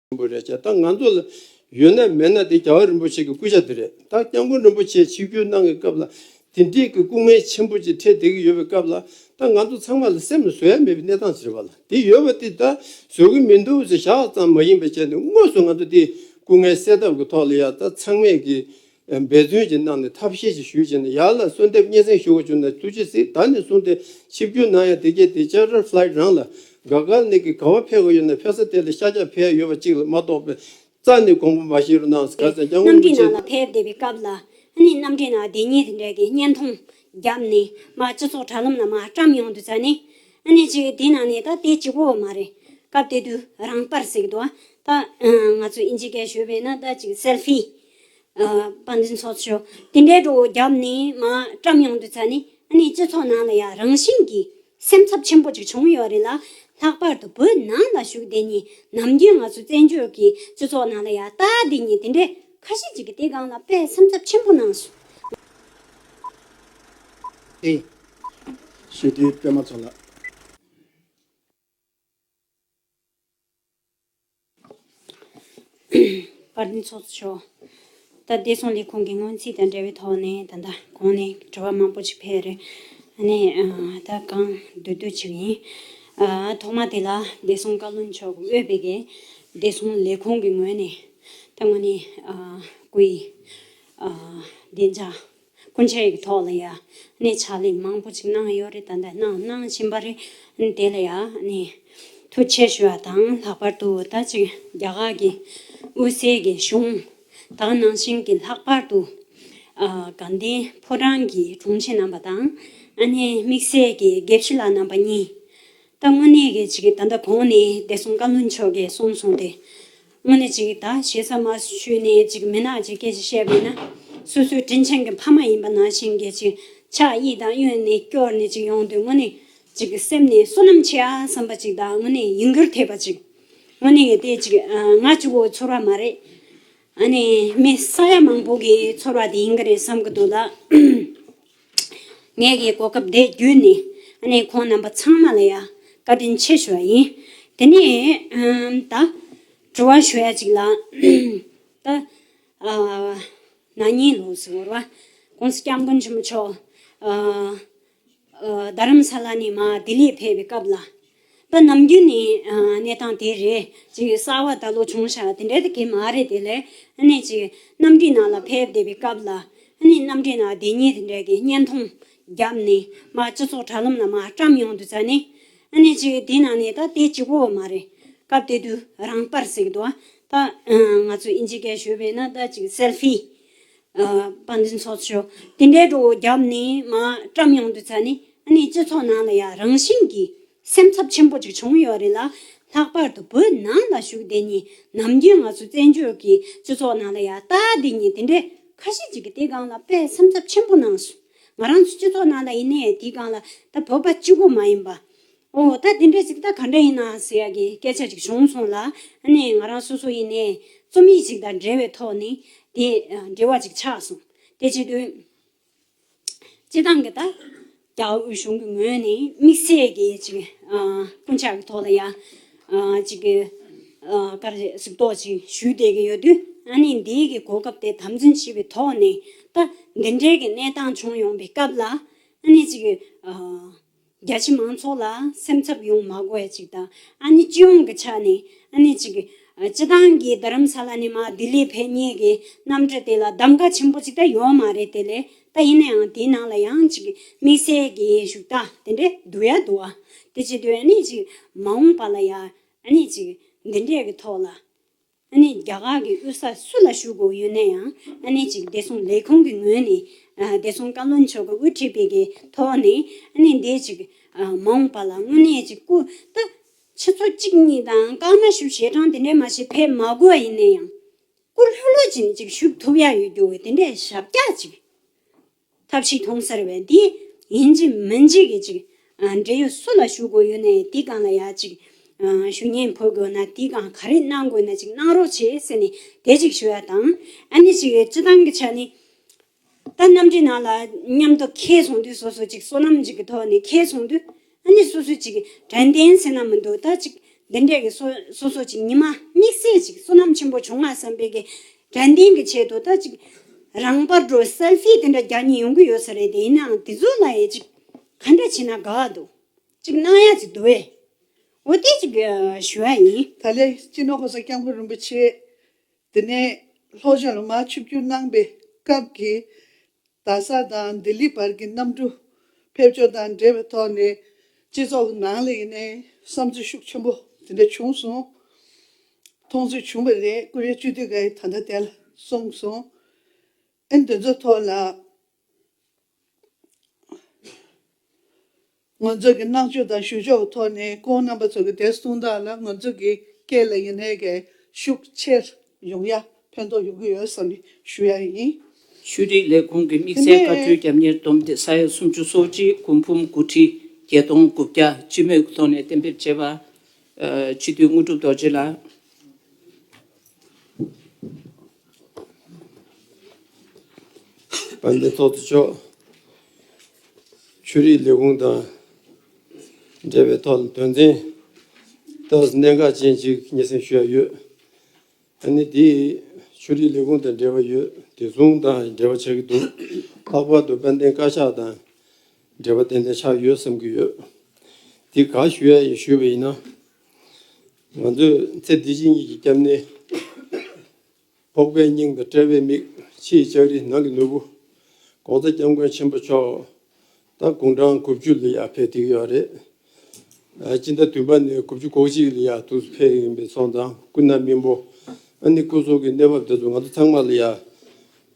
ཆེན་པོ་རེད་ཀྱང་ད་ང་ཚོ་ལ་ཡོད་ན་མེད་ན་དེ་རྒྱལ་བ་རིན་པོ་ཆེ་གི་སྐུ་ཤ་དེ་རེད་ད་སྐྱབས་མགོན་རིན་པོ་ཆེ་ཆིག་བརྒྱུད་གནང་གི་སྐབས་ལ་དེ་འདྲིའི་གི་སྐུ་ངལ་ཆེན་པོ་ཅིག་འཕྲད་བསྡད་གི་ཡོད་པའི་སྐབས་ལ་ད་ང་ཚོ་ཚང་མ་ལ་སེམས་ལ་བཟོད་ཡ་མེད་པའི་གནས་སྟངས་ཆེ་རེད་བ་ལ་དེ་ཡོད་བ་དེ་ད་བཟོད་གི་མི་འདུག་ཟེར་ཞག་ཙམ་མ་ཡིན་པའི་ཆེད་དུ་དངོས་སུ་ང་ཚོ་དེ་སྐུ་ངལ་སེལ་ཐབས་ཀི་ཐོག་ལ་ཡ་ད་ཚང་མས་གི་འབད་བརྩོན་གྱིས་གནང་ནས་ཐབས་ཤེས་ཀྱིས་ཞུས་བྱས་ནས་ཡར་ལ་གསོལ་འདེབས་སྙན་སེང་ཞུ་བར་བྱོན་ནས་ཐུགས་རྗེ་གཟིགས་ད་ནས་བཟུང་སྟེ་ཆིབས་བསྒྱུར་གནང་ཡང་དེ་རྒྱལ་དེ་ཅར་རར Flight རང་ལ་དགའ་དགའ་ནས་ཀྱི་ག་བ་ཕེབས་དགོས་ཡོད་ན་ཕེབས་ས་དེ་ལ་ཤ་ཆག་ཕེབས་ཡོད་པ་གཅིག་ལ་མ་གཏོགས་པའི་རྩ་ནས་དགོངས་པ་མ་བཞེས་རོགས་གནང་ག་ཚད་སྐྱང་བོ་གནམ་མོ་གྲི་ནག་ལ་ཆེ། ཕེབས་བསྡད་པའི་སྐབས་ལ་ནི་གནམ་གྲི་ནག་དེ་ཉིད་འདྲེ་གི་བརྙན་ཐུང་བརྒྱབ་ནས་མ་སྤྱི་ཚོགས་དྲ་ལམ་ན་མ་བཀྲམ་ཡོང་དུས་ཚ་ནས་ནི་ཅིག་དེ་ནང་ནས་ད་དེ་གཅིག་པོ་མ་རེད་སྐབས་དེ་དུས་རང་དཔར་ཟིག་ཏུ་ད་ང་ཚོས་ཨིན་ཇི་སྐད་ཞུས་པས་ན་ད་ཅིག Selfie དཔའ་འཛིན་སོགས་ཆོས་དེ་འདྲའི་སྒྲོ་བརྒྱབ་ནས་བཀྲམ་ཡོང་དུས་ད་ནི་སྤྱི་ཚོགས་ནང་ལ་ཡང་རང་བཞིན་གྱིས་སེམས་འཚབ་ཆེན་པོ་ཅིག་བྱུང་ཡོད་རེད་ལ། ལྷག་པར་དུ་བོད་ནང་ལ་བཞུགས་དེ་ཉིད་ནམ་རྒྱུན་ང་ཚོ་བཙན་བྱོལ་གྱི་སྤྱི་ཚོགས་ནང་ལ་ཡང་ལྟ་དེ་ཉིད་དེ་འདྲའི་ཁ་ཤས་ཅིག་གིས་དེ་སྒང་ལ་དཔེ་སེམས་འཚབ་ཆེན་པོ་གནང་སོང། ཨེ། ཞི་བདེའི་སྐྱོ་མ་ཚོ་ལགས། པར་འདི་ཚོགས་སུ་ཆོག། ད་བདེ་སྲུང་ལས་ཁུངས་ཀྱི་སྔོན་རྩིས་དང་འབྲེལ་བའི་ཐོག་ནས་ད་ལྟ་གོང་ནས་དྲི་བ་མང་པོ་ཞིག་འཕེལ་རེད། ནས་ད་གང་སྡོད་སྡོད་བྱེད་ཀྱི་ཡིན། ཐོག་མ་དེ་ལ་བདེ་སྲུང་བཀའ་བློན་མཆོག་འོས་དཔེ་གས་བདེ་སྲུང་ལས་ཁུངས་ཀྱི་ངོས་ནས་ད་ངོ་ནས་སྐུའི་བདེ་འཇགས་སྐུ་མཆེད་ཀྱི་ཐོག་ལ་ཡང་ནི་ཕྱག་ལས་མང་པོ་ཅིག་གནང་ཡོད་རེད་ད་ལྟ་གནང་གནང་བཞིན་པ་རེད། དེ་ལ་ཡང་ནི་ཐུགས་ཆེ་ཞུ་བ་དང་ལྷག་པར་དུ་ད་ཅིག་རྒྱ་གར་གྱི་དབུས་སའི་གི་གཞུང་དག་ནང་བཞིན་གྱི་ལྷག་པར་དུ་དགའ་ལྡན་ཕོ་བྲང་གི་དྲུང་ཆེ་རྣམ་པ་དང་ཨ་ནེ་དམིགས་བསལ་གྱི་དགེ་བཤེས་ལགས་རྣམ་པ་གཉིས། ད་དངོས་གནས་གི་ཅིག་ད་ལྟ་གོང་ནས་བདེ་སྲུང་བཀའ་བློན་མཆོག་གིས་གསུངས་སོང་སྟེ། དངོས་གནས་ཅིག་ད་བྱས་ས་མ་ཤོད་ནས་ཅིག་མིན་ན་ཅིག་སྐད་ཅིག་བཤད་དགོས་ན། སོ་སོའི་དྲིན་ཆེན་གྱི་ཕ་མ་ཡིན་པ་ན་ཞིང་གི་ཅིག་ཕྱག་གཡས་དང་གཡོན་ནས་སྐྱོར་ནས་ཅིག་ཡོང་དུས་དངོས་གནས་ཅིག་སེམས་ནས་བསོད་ནམས་ཆེ་ཨ་བསམ་པ་ཅིག་ད་དངོས་གནས་ཡིན་རྒྱུར་ཐེབས་པ་ཅིག་དངོས་གནས་གལ་ཏེ་ཅིག་ང་ཅིག་བོ་ཚོར་བ་མ་རེད་ཨ་ནི་མི་ས་ཡ་མང་པོ་གིས་ཚོར་བ་དེ་ཡིན་གྱི་རེད་བསམ་གྱི་འདུག་ད། ངེད་ཀྱི་གོ་སྐབས་དེ་བརྒྱུད་ནས་ནི་ཁོང་རྣམ་པ་ཚང་མ་ལ་ཡང་བཀའ་དྲིན་ཆེ་ཞུ་བ་ཡིན། དེ་ནས་ད་དྲི་བ་ཞུ་ཡ་ཅིག་ལ། ད་ནག་ཉེས་ལོགས་སུ་བོར་བ ྋགོང་ས ྋསྐྱབས་མགོན་ཆེན་པོ་མཆོག་རྡ་རམ་ས་ལ་ནས་མ་ལྡི་ལི་ཕེབས་པའི་སྐབས་ལ། པ་ནམ་རྒྱུན་ནས་གནས་སྟངས་དེ་རེད་ཅིག་གསར་བ་ད་ལོ་བྱུང་ཤ་དེ་འདྲ་དེ་གེ་མ་རེད་དེ་ལས་སྣེ་ཅིག་གནམ་གྲུའི་ནང་ལ་ཕེབས་བསྡད་པའི་སྐབས་ལ་གནམ་གྲུའི་ནང་བདེན་གཉིས་དེ་འདྲ་གི་བརྙན་ཐུང་བརྒྱབ་ནས་མ་སྤྱི་ཚོགས་དྲ་ལམ་ལ་མ་བཀྲམ་ཡོང་དུས་ཙ་ནས་སྣེ་ཅིག་དེ་ནང་ནས་ད་དེ་ཅི་བོ་མ་རེད་སྐབས་དེ་དུས་རང་དཔར་ཟིག་འདུག་ད་ང་ཚོ་ཨིན་ཇི་སྐད་ཞུས་པས་ན་ད་ཅིག་སེལ་ཧྥི་དཔའ་འཛིན་ཚོགས་མཆོག་དེ་འདྲའི་དྲོ་བོ་རྒྱབ་ནས་མ་བཀྲམ་ཡོང་དུས་ཚ་ནས་ཨ་ནེ་སྤྱི་ཚོགས་ནང་ལ་ཡང་རང་བཞིན་གྱིས་སེམས་འཚབ་ཆེན་པོ་ཅིག་བྱུང་ཡོད་རེད་ལ། ལྷག་པར་དུ་བོད་ནང་ལ་བཞུགས་དེ་ཉིད་ནམ་རྒྱུན་ང་ཚོ་བཙན་བྱོལ་གྱི་སྤྱི་ཚོགས་ནང་ལ་ཡང་ལྟ་དེ་ཉིད་དེ་འདྲའི་ཁ་ཤས་ཅིག་གིས་དེ་སྒང་ལ་དཔེ་སེམས་འཚབ་ཆེན་པོ་གནང་སོང། ང་རང་ཚོ་སྤྱི་ཚོགས་ནང་ལ་ཡིན་ནའི་དེ་སྒང་ལ་ད་བོད་པ་གཅིག་པོ་མ་ཡིན་པ། ཨོ་ད་དེ་འདྲའི་ཚིག་ད་ག་འདྲ་ཡིན་ནའང་ཟེར་ཡག་གི་སྐད་ཆ་ཅིག་བྱུང་སོང་ལ་ནི་ང་རང་སོ་སོ་ཡིན་ནའི་རྩོམ་ཡིག་ཅིག་དང་འབྲེལ་བའི་ཐོག་ནི་དེ་འབྲེལ་བ་ཅིག་ཆགས་སོང་དེ་བྱེད་དོན་སྤྱི་བཏང་གི་ད་རྒྱ་དབུས་གཞུང་གི་ངོས་ནས་དམིགས་བསལ་གྱི་ཅིག་སྐུ་འཆག་གི་ཐོག་ལ་ཡང་ཅིག་ཀ་རེ་གཟིགས་རྟོག་ཅིག་ཞུས་བསྡད་ཀྱི་ཡོད་དུས་ཨ་ནི་འདིའི་གི་གོ་སྐབས་དེ་དམ་འཛིན་བྱེད་པའི་ཐོག་ནས་ད་འདི་འདྲའི་གི་གནས་སྟངས་བྱུང་ཡོང་པའི་སྐབས་ལ་ནི་ཅིག། རྒྱ་ཆེ་མང་ཚོགས་ལ་སེམས་འཚབ་ཡོང་མ་དགོས་བ་ཅིག་དང་ཨ་ནི་སྤྱི་ཡོངས་ཀྱི་ཆ་ནས་ཨ་ནི་ཅིག་སྤྱི་བཏང་གིས་རྡ་རམ་ས་ལ་ནས་མ་ལྡི་ལི་བས་གཉིས་ཀྱི་གནམ་གྲུ་དེ་ལ་གདམ་ག་ཆེན་པོ་ཅིག་ད་ཡོད་མ་རེད་དེ་ལས་ད་ཡིན་ན་ཡང་དེའི་ནང་ལ་ཡང་ཅིག་དམིགས་བསལ་གྱི་བཞུགས་སྟངས་དེ་འདྲས་འདུག་ཡ་འདུག་ཨ་དེ་བྱེད་དུས་ཨ་ནི་ཅིག་མ་འོངས་པ་ལ་ཡང་ཨ་ནི་ཅིག་འདི་འདྲས་ཀྱི་ཐོག་ལ་ཨ་ནེ་རྒྱ་གར་གྱི་དབུས་ས་སུ་ལ་བཞུགས་དགོས་ཡོད་ན་ཡང་ཨ་ནེ་གཅིག་བདེ་སྲུང་ལས་ཁུངས་ཀྱི་ངོས་ནས་བདེ་སྲུང་བཀའ་བློན་མཆོག་གི་དབུ་ཁྲིད་པའི་གི་ཐོག་ནས་ཨ་ནེ་འདི་གཅིག་མ་འོངས་པ་ལ་དངོས་གནས་གཅིག་སྐུ་དུ། ཆུ་ཚོད་གཅིག་གཉིས་དང་སྐར་མ་ཞུ་ཞེ་གྲངས་དེ་འདྲས་མ་བྱེད་ཕེབས་མ་དགོས་པ་ཡིན་ན་ཡང། སྐུ་ལྷོད་ལྷོད་ཀྱིས་གཅིག་བཞུགས་ཐུབ་ཡ་ཡོད་རྒྱུ་དེ་འདྲས་ཞབས་རྒྱག་གཅིག། ཐབས་ཤིག་མཐོང་ཟེར་བས་དེ་ཡིན་གཅིག་མིན་གཅིག་གིས་ཅིག། འབྲེལ་ཡོད་སུ་ལ་ཞུ་དགོས་ཡོད་ནའི་དེ་གང་ལ་ཡ་ཅིག། ཞུ་སྙན་འཕོ་དགོས་ན་དེ་གང་ག་རེ་གནང་དགོས་ན་ཅིག་གནང་རོགས་བྱེད་ཟེར་ནས་དེ་ཅིག་ཞུ་ཡ་དང། ཨ་ནི་ཅིག་སྤྱི་བཏང་གི་ཆ་ནི། ད་གནམ་གྲི་ནང་ལ་མཉམ་དུ་ཁྱེད་ཚོང་དུས་སོ་སོ་ཅིག་སོ་ནམ་ཅིག་གི་ཐོག་ནས་ཁྱེད་ཚོང་དུས། ཨ་ནི་སོ་སོའི་ཅིག། དྲན་རྟེན་ཚེ་ན་མི་འདོད་ད་ཅིག། འདི་འདྲས་ཀྱི། སོ་སོ་ཅིག་ཉི་མ་དམིགས་བསལ་ཅིག། བསོད་ནམས་ཆེན་པོ་བྱུང་ང་བསམ་པའི་གེགས། དྲན་རྟེན་གྱི་ཆེད་དུ་ད་ཅིག། རང་བར་འགྲོ་སེལ་ཕི་དེ་འདྲ་བརྒྱ་གཉིས་ཡོང་གི་ཡོད་ས་རེད་དེ་ཡིན་ནའང་དེ་ཚོ་ལ་ཡི་ཅིག། ག་འདྲ་བྱས་ན་དགའ་བ་འདུག་ཅིག་སྣང་ཡ་ཅིག་འདུག་ཨེ། འོ་དེ་ཅིག། ཞུ་བ་ཡིན། ད་ལེ་སྤྱི་ནོར་ཧོར་ཟ་སྐྱབས་མགོན་རིན་པོ་ཆེས། དེ་ནས་ལྷོ་ཤར་མ་ཆུ་བསྐྱུར་གནང་པའི་སྐབས་ཀྱི་རྡ་ས་དང་ལྡི་ལི་བར་གྱི་གནམ་གྲུ་ཕེབས་འབྱོར་དང་འབྲེལ་བའི་ཐོག་ནས་སྤྱི་ཚོགས་ནང་ལ་ཡིན་ནའི་བསམ་ཚུལ་ཤུགས་ཆེན་པོ་དེ་འདྲ་བྱུང་སོང། མཐོང་ཚུལ་བྱུང་བ་རེད་ཀུ་རེ་བཅུ་དུས་འགའ་ཡི་ད་ལྟ་བསྟན་ལ་སོང་སོང་ཨེ་འདི་ཚོ་ཐོག་ལ། ངོ་མཚར་གྱི་བསྔགས་བརྗོད་དང་ཞུ་ཕྱོགས་ཐོག་ནས་ཁོང་རྣམ་པ་ཚོ་གི་དད་གསུང་དག་ལ་ང་ཚོ་གི་སྐད་ལ་ཡིན་ནའི་གས་ཤུགས་ཆེར་ཡོང་ཡ་ཕན་ཐོག་ཡོང་གི་ཡོད་བསམ་གི་ཞུ་ཡ་ཡིན། ཤུལ་རིག་ལས་ཁུངས་ཀྱི་དམིགས་བསལ་བཀའ་འཁྲོལ་རྒྱབ་གཉེར་བསྡོམས་ཏེ་ས་ཡ་སུམ་ཅུ་སོ་གཅིག་དགུ་འབུམ་དགུ་ཁྲི་བརྒྱད་སྟོང་དགུ་བརྒྱ་སྤྱི་མོས་ཀྱི་ཐོག་ནས་གཏན་འབེབས་བྱས་པ། སྤྱི་འཐུས་དངོས་གྲུབ་རྡོ་རྗེ་ལགས། བ་འདི་ཐོག་ཏུ་ཆོག། ཆོས་རིག་ལས་ཁུངས་དང་འབྲེལ་བའི་ཐོག་ལ་དོན་ཚན་དག་གནད་འགག་ཅན་གཅིག་སྙན་སེང་ཞུ་ཡ་ཡོད། ད་ནི་དེ་ཆོས་རིག་ལས་ཁུངས་དང་འབྲེལ་བ་ཡོད་དེ་ཟུང་དང་འབྲེལ་བ་ཆགས་ཀྱི་འདུག་ལྷག་པར་དུ་དཔལ་ལྡན་བཀའ་ཤག་དང་འབྲེལ་བ་ཏན་ཏན་ཆགས་ཡོད་བསམ་གྱི་ཡོད། དེ་ག་ཞུ་ཡ་ཞུས་པ་ཡིན་ན། ང་ཚོས་ཚེ་འདི་བཞིན་ཡིད་ཀྱི་སྐྱབས་གནས། ཕོག་པའི་སྙིང་དང་དཔྲལ་བའི་མིག། ཕྱི་ཡི་ལྕགས་རི་ནང་གི་ནོར་བུ། ལྐོག་ཟ་སྐྱབས་མགོན་ཆེན་པོ་མཆོག། ད་དགུང་གྲངས་དགུ་བཅུ་ལ་ཡར་ཕེབས་དུས་ཡོད་རེད། སྤྱི་ཟླ་བདུན་པ་ནས་དགུ་བཅུ་གོ་གཅིག་ལ་ཡར་ཐུགས་སུ་ཕེབས་ཡིན་པའི་ཚོང་དང་སྐུ་ན་མི་འབོ་ཨ་ནི་སྐུ་སོགས་ཀྱི་གནས་བབ་དེ་ཚོ་ང་ཚོ་ཚང་མ་ལ་ཡར་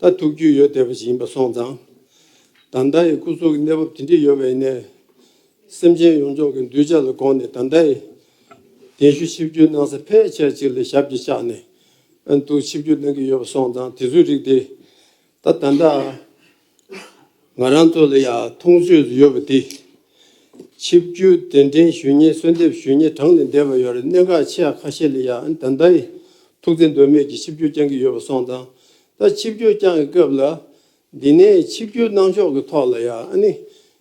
ད་ཐུག་རྒྱུ་ཡོད་བསྡད་པ་ཞིག་ཡིན་པ་སོང་ཙང། ད་ལྟ་ཡི་སྐུ་སོགས་ཀྱི་གནས་བབ་དེ་འདྲས་ཡོད་པ་ཡིན་ནའི། སེམས་ཅན་ཡོངས་རྫོགས་ཀྱི་འདུལ་བྱ་ལ་དགོངས་ནས་དམ་བདའ་ཡི། གདན་ཞུ་ཆིབས་བསྒྱུར་གནང་ས་ཕལ་ཆེར་ཅིག་ལ་ཞབས་ཀྱིས་བཅགས་ནས་འདུག་ཆིབས་བསྒྱུར་གནང་གི་ཡོད་པ་སོང་ཙང་དེ་ཚོའི་རིགས་དེ་ད་ད་འདྲ། ང་རང་ཚོ་ལ་ཡང་མཐོང་ཆོས་སུ་ཡོད་པ་འདི། ཆིབས་བསྒྱུར་གདན་འདྲེན་ཞུ་སྙན་གསོལ་འདེབས་ཞུ་སྙན་གྲངས་ལས་འདས་པ་ཡོད་རེད་གནད་འགག་ཆེ་ཡག་ཁ་ཤས་ལ་ཡང་ད་ད་ཡི། ཐུགས་བརྩེ་འདོད་མོས་ཀྱིས་ཆིབས་བསྒྱུར་བསྐྱང་གི་ཡོད་པ་སོང་ཙང་ད་ཆིབས་བསྒྱུར་བསྐྱང་གི་སྐབས་ལ། འདི་ནས་ཆིབས་བསྒྱུར་གནང་ཕྱོགས་ཀྱི་ཐོག་ལ་ཡང་ཨ་ནི།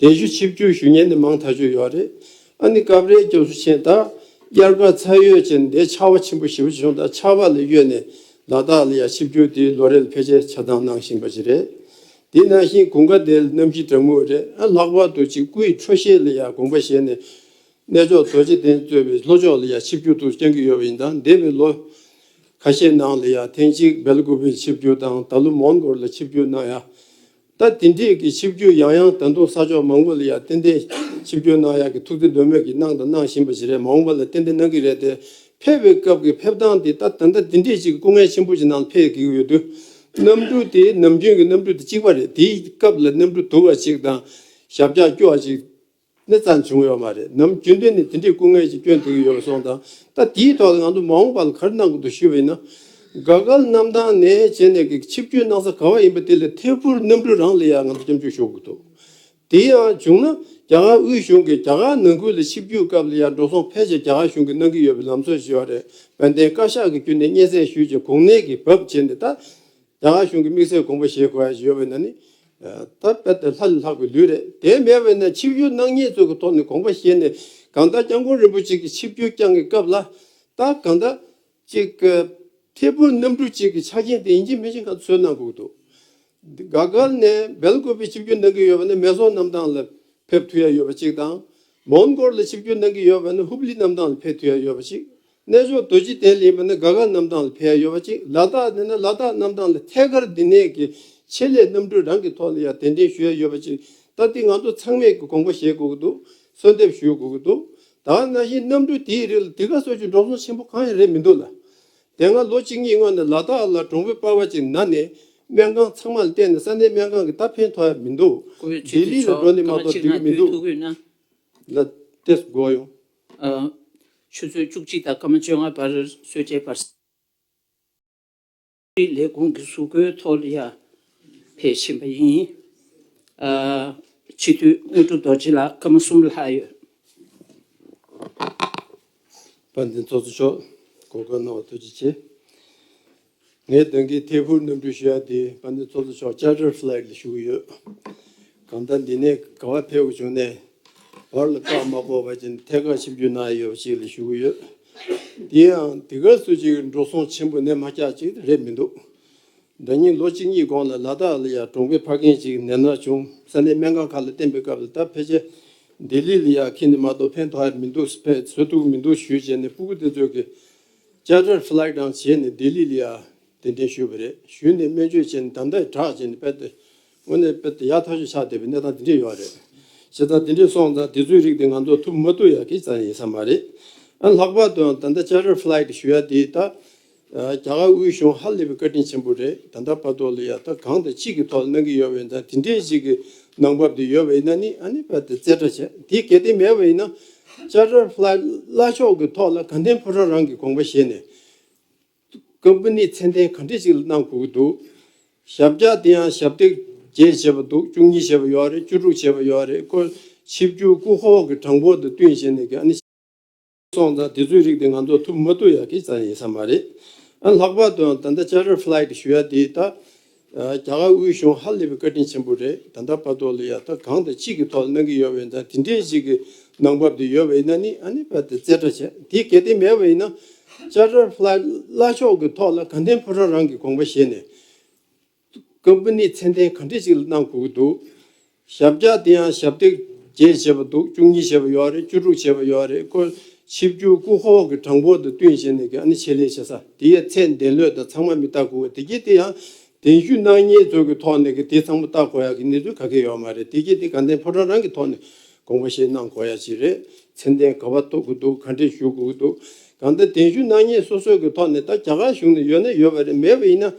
གདན་ཞུ་ཆིབས་བསྒྱུར་ཞུ་མཁན་ནི་མང་ད་ཅུག་ཡོད་རེད་ཨ་ནི་སྐབས་རེ་སྐྱོབ་གསོ་ཆེན་དང་དབྱར་ཁར་ཚ་ཡོད་ཅན་འདས་ཆར་བ་ཆེན་པོ་ཞིབ་བྱུང་དང་ཆར་བ་ལ་གཡོལ་ནས་ལ་དྭགས་ལ་ཡང་ཆིབས་བསྒྱུར་དེའི་ལོ་རེ་ལ་ཕལ་ཆེར་ཆ་ཚང་གནང་བཞིན་པ་ཞིག་རེད་དེ་ནང་བཞིན་གུང་དགའ་དེ་ལ་གནམ་གཤིས་གྲང་མོ་རེད་ཨ་ལྷག་པར་དུ་གཅིག་སྐུའི་འཕྲོ་གཞས་ལ་ཡང་དགོངས་པ་བཞེས་ནས་གནས་མཆོག་རྡོ་རྗེ་གདན་གཙོས་པའི་ལྷོ་ཕྱོགས་ལ་ཡང་ཆིབས་བསྒྱུར་དུ་བསྐྱང་གི་ཡོད་པ་ཡིན་དང་འདས་པའི་ལོ་ཁ་ཤས་ནང་ལ་ཡང་ཐེངས་གཅིག་སྦེལ་ཀོབི་ལ་ཆིབས་བསྒྱུར་དང་ད་ལོ་མོན་གོར་ལ་ཆིབས་བསྒྱུར་གནང་ཡང་ད་དེ་འདྲས་ཀྱི་ཆིབས་བསྒྱུར་ཡང་ཡང་ད་དུང་ས་ཕྱོགས་མང་པོ་ལ་ཡང་ཏན་ཏན་ཆིབས་བསྒྱུར་གནང་ཡག་གི་ཐུགས་བརྩེ་འདོད་མོས་ཀྱིས་གནང་དང་གནང་བཞིན་པ་ཞིག་རེད་མ་འོངས་པ་ལ་ཏན་ཏན་གནང་གི་རེད་དེ། ཕེབས་པའི་སྐབས་ཀྱི་ཕེབས་སྟངས་དེ་ད་ད་ལྟ་དེ་འདྲས་ཅིག་སྐུ་ངལ་ཆེན་པོ་ཞིག་ནང་ལ་ཕེབས་དགོས་ཀྱི་ཡོད་དུས། གནམ་གྲུ་དེ་ནམ་རྒྱུན་གྱི་གནམ་གྲུ་དེ་གཅིག་པ་རེད་དེའི་སྐབས་ལ་གནམ་གྲུ་དུར་བ་ཞིག་དང་ཞབས་བཀྱག་སྐྱོ་བ་ཞིག་ནས་ཙམ་བྱུང་ཡོད་མ་རེད་ནམ་རྒྱུན་དུ་ནས་དེ་འདྲའི་སྐུ་ངལ་གྱི་སྐྱོན་འདུག་ཡོད་པ་སོང་དང་ད་དེའི་ཐོག་ལ་ང་ཚོ་མ་འོངས་པ་ལ་ག་རེ་གནང་དགོས་འདུག་ཞུས་པ་ཡིན་ན། དགའ་སྐལ་རྣམ་དང་ནས་བྱས་ནས་ཀྱི་ཆིབས་བསྐྱོད་གནང་ས་ག་བ་ཡིན་པ་དེ་ལ་ཐད་འཕུར་གནམ་གྲུ་རང་ལ་ཡང་ང་ཚོ་སྐྱབས་འཇུག་ཞུ་དགོས་འདུག་དེ་ཡང་བྱུང་ན་རྒྱ་གར་དབུས་གཞུང་གིས་རྒྱ་གར་ནང་ཁུལ་ལ་ཆིབས་བསྐྱོད་སྐབས་ལ་ཡང་འགྲོ་སོང་ཕལ་ཆེར་རྒྱ་གར་གཞུང་གིས་གནང་གི་ཡོད་པའི་ལམ་སྲོལ་ཞེས་བ་རེད་དཔལ་ལྡན་བཀའ་ཤག་གི་བརྒྱུད་ནས་སྙན་སེང་ཞུས་རྗེས་གོང་ནས་ཀྱི་བབ་བྱས་ནས་ད་རྒྱ་གར་གཞུང་གི་དམིགས་བསལ་དགོངས་པ་བཞེས་དགོས་ཡ་ཞེས་ཡོད་པ་ཡིན་ན་ནི། ད་བལྟ་དེ་ལྷ་ལས་ལྷག་པའི་ལུས་རེད་དེ་མེད་པས་ན་ཆིབས་སྒྱུར་སྣང་བརྙན་གཙོས་ཀྱི་ཐོག་ནས་དགོངས་པ་བཞེས་ནས་གང་ལྟར་སྐྱབས་མགོན་རིན་པོ་ཆེ་གི་ཆིབས་སྒྱུར་བསྐྱངས་ཀྱི་སྐབས་ལ་ད་གང་ལྟར་ཅིག་ཁེ་ཕུར་གནམ་གྲུ་གཅིག་གི་ཆ་རྐྱེན་དེ་ཡིན་གཅིག་མིན་གཅིག་ག་ཚོད་གནང་དགོས་འདུག་དགའ་དགའ་ནས་སྦེལ་ཀོབ་པའི་ཆིབས་སྒྱུར་གནང་གི་ཡོད་པ་ནི་མེ་ཟོང་གནམ་ཐང་ལ་ཕེབས་ཐུབ་ཡ་ཡོད་པ་གཅིག་དང། མོན་གོར་ལ་ཆིབས་སྒྱུར་གནང་གི་ཡོད་པ་ནི་ཧུབ་ལི་གནམ་ཐང་ལ་ཕེབས་ཐུབ་ཡ་ཡོད་པ་གཅིག་རྣལ་འབྱོར་རྡོ་རྗེ་གདན་ལེན་པ་ནི་དགའ་དགའ་རྣམ་གྲངས་ལ་ཕན་ཡོད་པ་གཅིག་ལ་དྭགས་ནས་ནི་ལ་དྭགས་རྣམ་གྲངས་ལ་ཐད་ཀར་འདི་ནས་ཀྱི་ཆེད་ལས་རྣམ་གྲོལ་རང་གི་ཐོག་ནས་ཡང་དན་དྲན་ཞུ་ཡ་ཡོད་པ་གཅིག་ལྟ་འདི་ང་ཚོ་ཚང་མས་ཀྱི་དགོངས་པ་བཞེས་དགོས་ཀྱི་འདུག་གསོལ་འདེབས་ཞུ་དགོས་ཀྱི་འདུག་ད་ནང་བཞིན་རྣམ་གྲོལ་དེའི་རིགས་ལ་དེ་ག་སོ་ཅི་འགྲོ་སོང་ཆེན་པོ་གང་ཡང་རེད་མི་འདུག་ལ་དེ་སྔ་ལོ་གཅིག་གཉིས་སྔོན་ནས་ལ་དྭགས་ལ་གྲོང་བོད་པ་བ་གཅིག་ན་ནས་སྨན་ཁང་ཚང་མ་ལ་བལྟས་ནས་ས་གནས་སྨན་ཁང་གི་ད་ཕན་ཐོག་ཡ་མི་འདུག་ལྡི་ལི་ལ་འགྲོ་ནས་མ་གཏོགས་འགྲིག་གི་མི་འདུག་ལ་དེ་སྒོ་ཡོང། ཆུ་ཚོད་བཅུ་གཅིག་དང་སྐར་མ་བཅོ་ལྔ་བར་གསོལ་ཇའི་བར་གསེང། ལས་ཁུངས་ཀྱི་གཟུགས་པོའི་ཐོག་ལ་ཡར་འཕེལ་བཞིན་པ་ཡིན། སྤྱི་འཐུས་དངོས་གྲུབ་རྡོ་རྗེ་ལགས་སྐར་མ་གསུམ་ལྷག་ཡོད། དཔལ་ལྡན་ཚོགས་གཙོ་མཆོག་གོ་སྐབས་གནང་བར་ཐུགས་རྗེ་ཆེ། ངའི་དོན་གྱི་ཐད་ཧུར་སྣོན་འབུལ་ཞུ་ཡག་དེ་བ་འདི་ཚོགས་གཙོ་མཆོག་བཅར་འདྲིར Flight ལ་ཞུགས་ཡོད། གང་ལྟར་འདི་ནས་ག་བ་ཕེབས་དགོས་བྱུང་ནས་བར་ལ་བཀག་མ་དགོས་པ་ཅན་ཐད་ཀར་ཆིབས་བསྒྱུར་གནང་ཡོད་པ་ཅིག་ལ་ཞུགས་ཡོད། དེ་ཡང་དེ་གར་སུ་ཅིག་འགྲོ་སོང་ཆེན་པོ་ནད་མ་བཀྱགས་ཅིག་རེད་མི་འདུག་ཟླ་གཉིས་ལོ་གཅིག་གཉིས་གོང་ལ་ལ་དྭགས་ལ་ཡང་གྲོང་པའི་ཕ་རྒན་ཅིག་ནད་མནར་བྱུང་ས་ནས་སྨན་ཁང་ཁག་ལ་བསྟན་པའི་སྐབས་ལ་ད་ཕལ་ཆེར་ལྡི་ལི་ལ་ཡང་ཁེལ་ནས་མ་གཏོགས་ཕན་ཐོགས་ཡ་མི་འདུག་ཕན་ཚོད་ཐུག་མི་འདུག་ཞུས་བྱས་ནས་སྤུ་གུ་དེ་ཚོས་ཀྱི། བཅར་འདྲིར Flag Down བྱས་ནས་ལྡི་ལི་ལི་ཨར་གདན་འདྲེན་ཞུས་པ་རེད། ཞུས་ནས་སྨན་བཅོས་བྱས་ནས་དམ་དྲག་བྱས་ནས་དཔལ་ལྡན་དངོས་གནས་དཔལ་ལྡན་ཡག་ཐག་ཆོད་ཆགས་བསྡད་པའི་གནས་སྟངས་འདི་འདྲས་ཡོད་རེད། བྱས་ཙང་དེ་འདྲས་སོང་ཙང་དེ་ཚོའི་རིགས་དེ་ང་ཚོ་ཐུབ་མ་ཐུབ་ཡག་གི་ཙམ་ཡིན་ས་མ་རེད། ཨ་ལྷག་པར་དུའང་ད་ལྟ་བཅར་འདྲིར Flag Down ཞུ་ཡ་དེ་ད་རྒྱ་གར་དབུས་གཞུང་ཧ་ལས་པའི་བཀའ་དྲིན་ཆེན་པོ་རེད་ད་ལྟ་བར་དོ་ལ་ཡག་ཐག་གང་དང་ཅི་གི་ཐོག་ལ་གནང་གི་ཡོད་པ་ཡིན་ཙང་དེ་འདྲས་ཞིག་གི་གནང་བབ་དེ་ཡོད་པ་ཡིན་ན་ནི་ཨ་ནི་དཔལ་ལྡན་རྩེ་གྲ་བྱས་དེ་གལ་ཏེ་མེད་པ་ཡིན་ན་ལྕགས་རྭ་བླ་བླ་ཤོག་གི་ཐོག་ལ་དགའ་ལྡན་ཕོ་བྲང་རང་གི་དགོངས་པ་བཞེས་ནས། སྐབས་འདི་ནི་མཚན་ལྡན་ག་འདྲི་ཞིག་གནང་དགོས་ཀྱི་འདུག། ཞབས་བཀྱག་དེ་ཡང་ཞབས་སྟེགས་བརྒྱད་བྱས་པ་འདུག་བཅུ་གཉིས་བྱས་པ་ཡོད་རེད་བཅུ་དྲུག་བྱས་པ་ཡོད་རེད་ཁོ། ཆིབས་བསྒྱུར་སྐུ་ཧོག་གི་དྲང་པོ་དང་བསྟུན་བྱས་ནས་དགའ་ནི། སོང་ཙང་དེ་ཚོའི་རིགས་དེ་ང་ཚོ་ཐུབ་མ་ཐུབ་ཡག་གི་ཙང་ཡིན་ས་མ་རེད། ལྷག་པར་དུའང་ད་ལྟ་ལྕགས་རྭ་བླ་གི་ཞུ་ཡ་དེ་ད། རྒྱ་གར་དབུས་གཞུང་ཧ་ལས་པའི་བཀའ་དྲིན་ཆེན་པོ་རེད་ད་ལྟ་བར་དོ་ལ་ཡག་ཐབས་གང་དང་ཅི་གི་ཐོག་ལ་གནང་གི་ཡོད་བས་ན་དེ་འདྲའི་ཞིག་གི་གནང་བབ་དེ་ཡོད་བས་ན་ནི་ཨ་ནི་བར་དེ་རྩེ་གྲ་བྱས་དེ་གལ་ཏེ་མེད་བས་ན་ལྕགས་དྲ་ལྷ་བླ་ཤོག་གི་ཐོག་ལ་གངས་ལྡན་ཕོ་བྲང་རང་གི་དགོངས་པ་བཞེས་ནས། ཀོམ་པ་ནི་ཚད་ལྡན་གང་འདྲས་ཅིག་ལ་གནང་དགོས་ཀྱི་འདུག་ཞབས་བཀྱག་དེ་ཡང་ཞབས་སྟེགས་བརྒྱད་བྱས་པ་འདུག་བཅུ་གཉིས་བྱས་པ་ཡོད་རེད་བཅུ་དྲུག་བྱས་པ་ཡོད་རེད་ཀོ། ཆིབས་བསྒྱུར་སྐུ་ཧོག་གི་གྲངས་འབོར་དང་བསྟུན་བྱས་ནས་ཀྱི་ཨ་ནི་ཆེད་ལས་བྱེད་ས་དེ་ཡའི་ཚད་འདས་ལོས་དང་ཚང་མ་མི་བལྟ་དགོས་དེ་གྱིས་དེ་ཡང་གདན་ཞུ་གནང་ཉེས་ཚོགས་ཀྱི་ཐོག་ནས་ཀྱི་དེ་ཚང་མ་བལྟ་དགོས་ཡ་ཀྱི་གནས་ཚུལ་ག་གེ་ཡོད་མ་རེད་དེ་གྱིས་དེ་ག་འདན་ཕོ་བྲང་རང་གི་ཐོག་ནས་དགོངས་པ་བཞེས་གནང་དགོས་ཡ་ཅི་རེད་མཚན་ལྡན་ག་བ་གཏོགས་དགོས་འདུག་ག་འདྲེ་ཞུ་དགོས་འདུག་ག་འདི་གདན་ཞུ་གནང་ཉེས་སོ་སོ་ཀྱི་ཐོག་ནས་ད་རྒྱ་གར་གཞུང་ནས་ཡོད་ན་ཡོད་པ་རེད་མེད་པ་ཡིན་ན།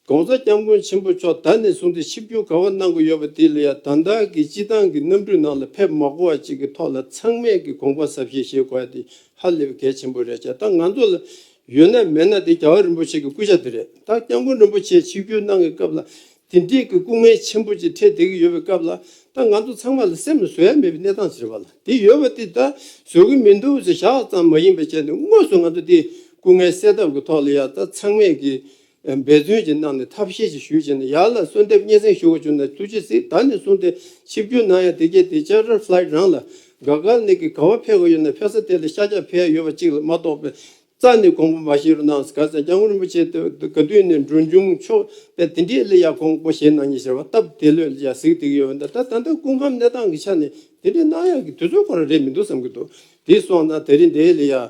ྋགོང་ས ྋསྐྱབས་མགོན་ཆེན་པོ་མཆོག་ད་ནས་བཟུང་སྟེ་ཆིབས་བསྒྱུར་ག་བ་གནང་གི་ཡོད་པ་དེ་ལ་ཡང་དང་དག་གིས་སྤྱི་བཏང་གི་གནམ་གྲུའི་ནང་ལ་ཕེབས་མ་གོ་བ་ཅིག་གི་ཐོག་ལ་ཚང་མས་ཀྱི་དགོངས་པ་ཟབ་ཞེས་བཞེས་གོ་བ་དེ་ཧ་ལས་པའི་གལ་ཆེན་པོ་རེད་ཅེས་ད་ང་ཚོ་ལ་ཡོད་ན་མེད་ན་དེ་རྒྱ་བ་རིན་པོ་ཆེ་གི་སྐུ་ཕྱྭ་དེ་རེད་ད ྋསྐྱབས་མགོན་རིན་པོ་ཆེས་ཆིབས་བསྒྱུར་གནང་གི་སྐབས་ལ་དེ་འདྲིས་ཀྱི་སྐུ་ངལ་ཆེན་པོ་ཅིག་འཕྲད་བསྡད་ཀྱི་ཡོད་པའི་སྐབས་ལ་ད་ང་ཚོ་ཚང་མ་ལ་སེམས་ལ་བཟོད་ཡ་མེད་པའི་གནས་སྟངས་ཤིག་རེད་པ་ལ་དེ་ཡོད་པ་དེ་ད་བཟོད་ཀྱི་མི་འདུག་ཟེར་ཤག་ཙམ་མ་ཡིན་པའི་ཆེད་དུ་དངོས་སུ་ང་ཚོ་དེ་སྐུ་ངལ་སེལ་ཐབས་ཀྱི་ཐོག་ལ་ཡང་ད་ཚང་མས་ཀྱི་འབད་བརྩོན་གྱིས་གནང་ནས་ཐབས་ཤེས་ཀྱིས་ཞུས་བྱས་ནས་ཡར་ལ་གསོལ་འདེབས་སྙན་གསེང་ཞུ་བར་བྱོན་ནས་ཐུགས་རྗེ་གཟིགས་ད་ནི་གསུངས་ཏེ་ཆིབས་བསྒྱུར་གནང་ཡང་དེ་རྗེས་དེ་ལྕགས་རི Flight རང་ལ་དགའ་དགའ་ནི་གི་ག་བ་ཕེབས་དགོས་ཡོད་ན་ཕེབས་ས་དེ་ལ་ཤ་ཆག་ཕེབས་ཡོད་པ་གཅིག་ལ་མ་གཏོགས་པའི་རྩ་ནི་གོང་པོ་མ་བཞེས་རོགས་གནང་ཟེར་ག་ཚད་སྐྱབས་མགོན་རིན་པོ་ཆེ་དེ་ག་དུས་ནས་འབྲུ་འབྱུང་མཆོག་པས་དེ་འདྲའི་གླུ་ཡག་གོང་པོ་བཞེས་གནང་ཉེ་ཟེར་བ་སྟབས་བདེ་ལོས་ཀྱང་གཟིགས་དེ་གི་ཡོད་པ་འདི་ད་ད་ལྟ་སྐུ་ཁམས་གནས་སྟངས་ཀྱི་ཆ་ནས་དེ་འདྲའི་གནང་ཡག་གི་དུས་ཚོད་ཁོ་ར་རེད་མི་འདུག་བསམ་གི་འདུག་དེ་སོང་ན་དེ་རིང་འདི་ལ་ཡང་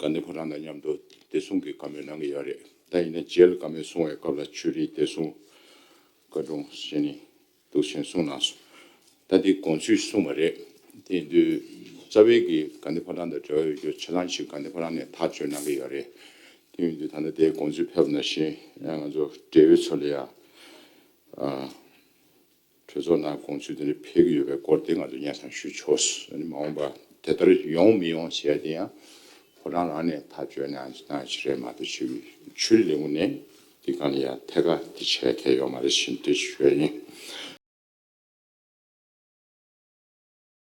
དགའ་ནི་ཁོ་རང་དང་མཉམ་དུ་བདེ་སྲུང་གི་བཀའ་མོལ་གནང་གི་ཡོད་རེད་ད་ཡིན་ན་རྗེས་ལ་བཀའ་མོལ་གསུང་བའི་སྐབས་ལ་ཆོས་རིག་བདེ་སྲུང་བཀའ་དྲུང་ཞེས་ནི་འདུག་ཞེས་གསུང་གནང་སོང། ད་དེ་དགོངས་ཚུལ་གསུངས་པ་རེད། དེ་དུས་རྩ་བའི་གི་དགའ་ནི་ཁོ་རང་དང་འབྲེལ་བ་ཡོད་རྒྱུ་ཆ་ལང་ཞིག་དགའ་ནི་ཁོ་རང་ནས་ཐག་གཅོད་གནང་གི་ཡོད་རེད། དེ་ཡིན་དུས་ད་ལྟ་དེའི་དགོངས་ཚུལ་ཕེབས་ན་བཞིན་ང་ཚོ་འབྲེལ་ཡོད་ཚོ་ལ་ཡང། གྲོས་ཚོགས་ནང་དགོངས་ཚུལ་དེ་འདྲ་འཕེལ་གྱི་ཡོད་པའི་སྐོར་དེ་ང་ཚོས་གཉའ་གསང་ཞུ་ཆོག་མ་འོངས་པ་དེ་ལྟར་ཡོང་མི་ཡོང་བྱས་དེ་ཡང་ཕོ་བྲང་རང་ནས་ཐག་གཅོད་ན་གནང་ཞིག་རེད་མ་གཏོགས་ཆོས་ཀྱི་ཆོས་རིག་ལས་ཁུངས་ནས་འདི་ག་ནས་ཡང་ཐད་ཀ་དེ་བྱས་མཁན་ཡོད་མ་རེད་ཞེས་འདྲི་ཞུ་བ་ཡིན།